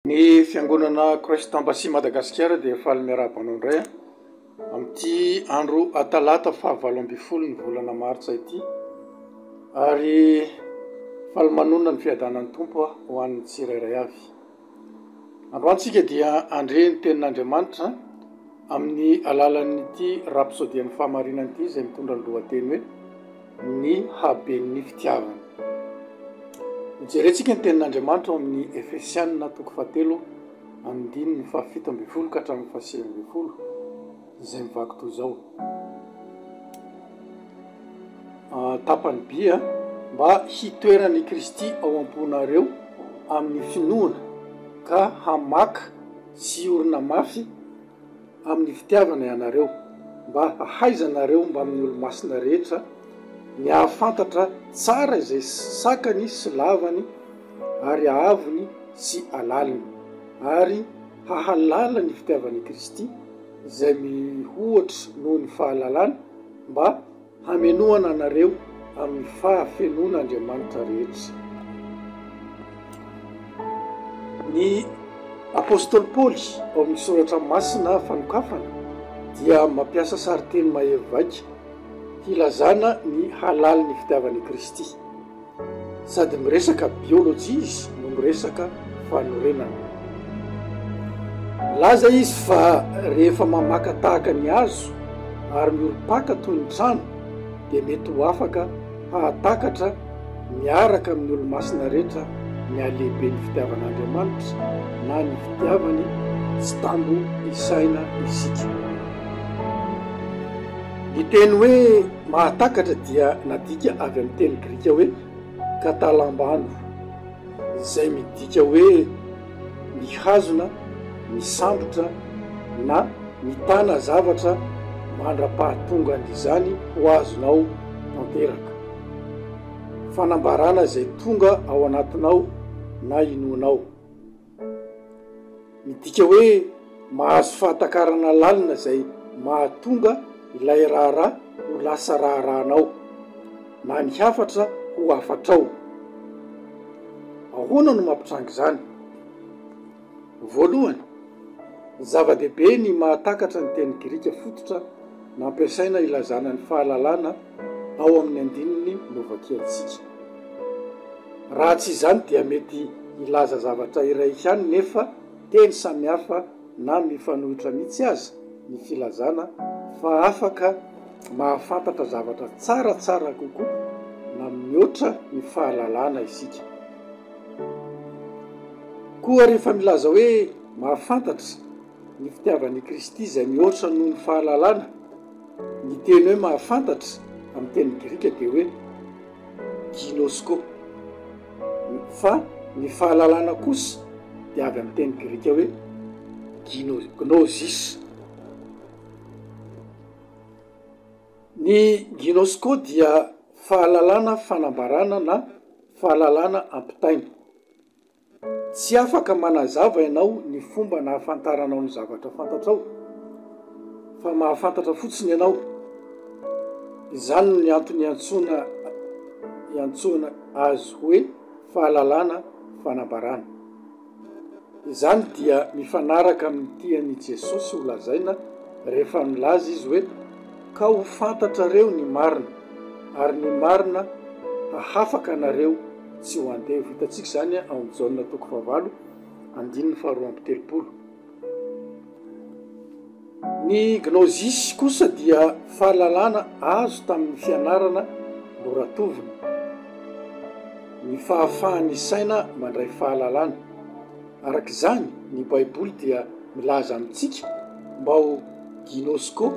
Ny fiangonana Christ Embassy Madagasikara dia faly miarahaba anao indray amin'ity andro Talata faha valo ambin'ny folo ny volana Martsa ity ary faly manonona ny fiadanan'ny Tompo ho an'ny tsirairay avy. Androany tsika dia andre ny tenin'Andriamanitra amin'ny alalan'ity rapsodian'ny fahamarinana ity izay mitondra ny lohateny hoe. ny haben'ny fitiavana. Hojerentsika ny tenin'Andriamanitra ao amin'ny Efesianina toko fahatelo andininy fahafito ambin'ny folo ka hatramin'ny fahasivy ambin'ny folo izay mivaky toy izao. Ah, tapany by a, mba hitoeran'i Kristy ao am-ponareo amin'ny finoana ka hamaka sy orina mafy amin'ny fitiavana ianareo, mba hahaizanareo mbamin'ny olo-masina rehetra ny hahafantatra tsara izay sakany sy lavany ary hahavony sy halaliny, ary hahalala ny fitiavan'i Kristy izay mihoatra noho ny fahalalana, mba. Hamenoana anareo amin'ny fahafenoan' Andriamanitra rehetra. Ny apostoly Paoly ao amin'ny Soratra Masina fanokafana dia mampiasa sarinteny mahery vaika hilazana ny halalin'ny fitiavan'i Kristy. Sady miresaka biologie izy no miresaka fanorenana. Milaza izy fa rehefa mamaka tahaka ny hazo ary miorim-paka toy ny trano dia mety ho afaka hahatakatra miaraka amin'ny olo-masina rehetra ny halehiben'ny fitiavan'Andriamanitra na ny fitiavany tsy tambo isaina isika. Ny teny hoe Mahatakatra dia nadika avy amin'ny teny grika hoe katalambano, izay midika hoe mihazona, misambotra na mitana zavatra mandra-pahatongan'izany ho azonao tanteraka. Fanambarana izay tonga ao anatinao na inoanao. Midika hoe mahazo fahatakarana lalina izay mahatonga ilay raharaha ho lasa raharahanao na ny hafatra ho hafatrao. Ahoana no mampitranga izany? Voalohany, zava-dehibe ny mahatakatra ny teny grika fototra nampiasaina ilazana ny fahalalana. ao amin'ny andininy novakiantsika. Raha tsy izany dia mety hilaza zavatra iray ihany nefa teny samihafa na mifanohitra mihitsy aza ny filazana fa afaka mahafantatra zavatra tsaratsara kokoa na mihoatra ny fahalalana isika. Koa rehefa milaza hoe mahafantatra, Ny fitiavan' i Kristy izay mihoatra noho ny fahalalana. Ny teny hoe mahafantatra amin'ny teny grika dia hoe ginosko, fa ny fahalalana kosa dia avy amin'ny teny grika hoe gino, gnosis. Ny ginosko dia fahalalana fanambarana na fahalalana ampitaina. Tsy afaka manazava ianao ny fomba nahafantaranao ny zavatra fantatrao, fa mahafantatra fotsiny ianao. Izany no antony iantsoana iantsoana azy hoe fahalalana fanambarana. Izany dia mifanaraka amin'ny tian'i Jesosy holazaina rehefa nilaza izy hoe, Ka ho fantatrareo ny marina, ary ny marina hahafaka anareo. sy ho andeha. Ho hitantsika izany ao amin'ny Jaona toko fahavalo andininy faharoa amby telopolo. Ny Gnosis kosa dia fahalalana azo tamin'ny fianarana noratovina, ny fahafahan'ny saina mandray fahalalana. Araka izany, ny Baiboly dia milaza amintsika mba ho ginosko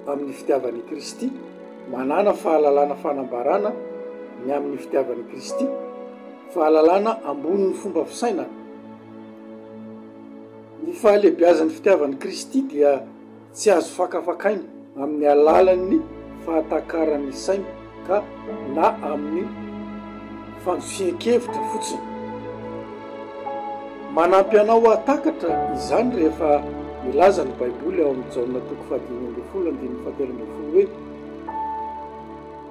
amin'ny fitiavan'i Kristy, manàna fahalalana fanambaràna ny amin'ny fitiavan'i Kristy, fahalalana ambonin'ny fomba fisainana. Ny fahalehibiazan'ny fitiavan'i Kristy dia. Tsy azo fakafakaina amin'ny alalan'ny fahatakaran'ny saina ka na amin'ny fandosian-kevitra fotsiny. Manampy anao hahatakatra izany rehefa milaza ny Baiboly ao amin'ny Jaona toko fahadimy ambin'ny folo andininy fahatelo ambin'ny folo hoe,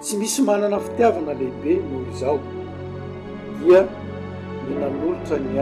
Tsy misy manana fitiavana lehibe noho izao, dia ny nanolotra ny ainy.